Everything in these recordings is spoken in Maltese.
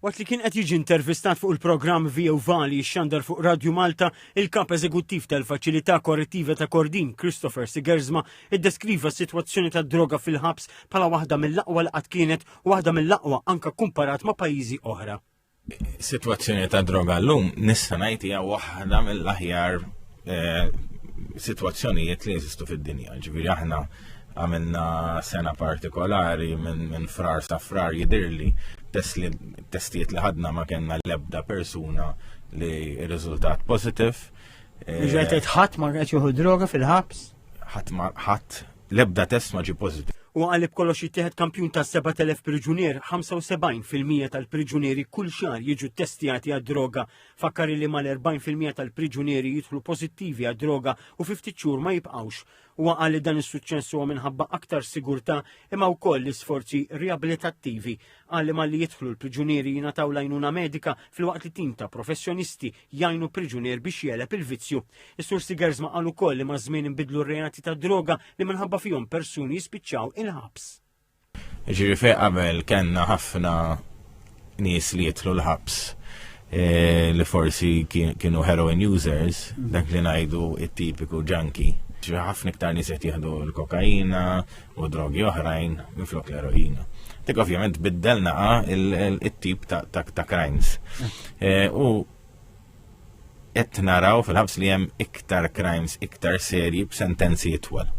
Waqt li kien qed jiġi intervistat fuq il-programm Via Vali xxandar fuq Radju Malta, il-Kap Eżekuttiv tal-Faċilità Korrettiva ta' Kordin, Christopher Sigersma, iddeskriva s-sitwazzjoni tad-droga fil-ħabs bħala waħda mill-aqwa li qatt kienet u waħda mill-aqwa anke kkumparat ma' pajjiżi oħra. Is-sitwazzjoni tad-droga llum nista' ngħid hija waħda mill-aħjar eh, situazzjonijiet li jeżistu fid-dinja. Ġifieri aħna għamilna sena partikolari minn min frar sa frar jidirli testijiet li ħadna ma kellna l-ebda persuna li r-riżultat positif. Ġajt eh, ħadd ma qed juhu droga fil-ħabs? Ħadd ma ħadd l-ebda test ma ġi pozitif. U għalib kollox jittieħed kampjun ta' 7000 priġunier, 75% tal-priġunieri kull xar jiġu testijati għad-droga Fakkar li mal-40 fil-mija tal-priġunieri jidħlu pożittivi għad-droga u fi ftit xhur ma jibqgħux. Huwa qal li dan is-suċċess huwa minħabba aktar sigurtà imma wkoll l-isforzi riabilitattivi. Qal li malli jidħlu l-priġunieri jingħataw l-għajnuna medika filwaqt li tim ta' professjonisti jgħinu priġunier biex jeleb il-vizzju. Is-Sur Sigers ma qal ukoll li maż-żmien inbidlu r-reati tad-droga li minħabba fihom persuni jispiċċaw il-ħabs. Ġiri fej qabel kellna ħafna nies li jitlu l-ħabs e, li forsi kienu heroin users, dak li ngħidu it-tipiku junkie. Ġiri ħafna iktar nies qed jieħdu l-kokaina u drogi oħrajn minflok l-eroina. Dik ovvjament biddelna ah, it-tip ta' crimes. E, u qed naraw fil-ħabs li hemm iktar crimes iktar serji b'sentenzi itwal.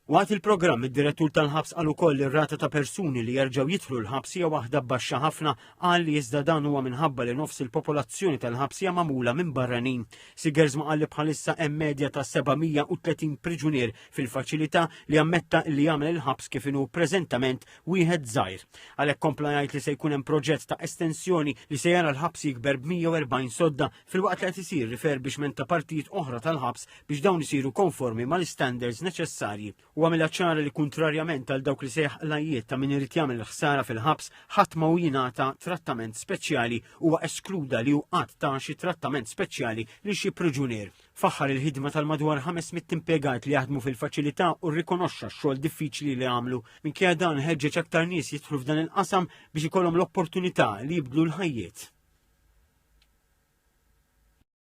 Waqt il-programm, id-direttur tal-ħabs qal ukoll li r-rata ta' persuni li jerġgħu jidħlu l-ħabs hija waħda baxxa ħafna qal li iżda dan huwa minħabba li nofs il-popolazzjoni tal-ħabs hija magħmula minn barranin. Sigers ma qal li bħalissa hemm medja ta' 730 priġunier fil-faċilità li ammetta li jagħmel il-ħabs kif inhu preżentament wieħed żgħir. Għalhekk kompla jgħid li se jkun hemm proġett ta' estensjoni li se jara l-ħabs jikber b'140 sodda filwaqt li qed isir riferbixment ta' partijiet oħra tal-ħabs biex dawn isiru konformi mal-istandards neċessarji. U għamilha ċara li kuntrarjament għal dawk li sejħ qlajiet ta' min irid jagħmel ħsara fil-ħabs ħadd ma hu jingħata trattament speċjali huwa eskluda li hu qatt ta' xi trattament speċjali li xi priġunier. Faħħar il-ħidma tal-madwar 500 impjegat li jaħdmu fil-faċilità u rrikonoxxa x-xogħol diffiċli li għamlu. Minkejja dan ħeġġeġ aktar nies jidħlu f'dan il-qasam biex ikollhom l-opportunità li jibdlu l-ħajjiet.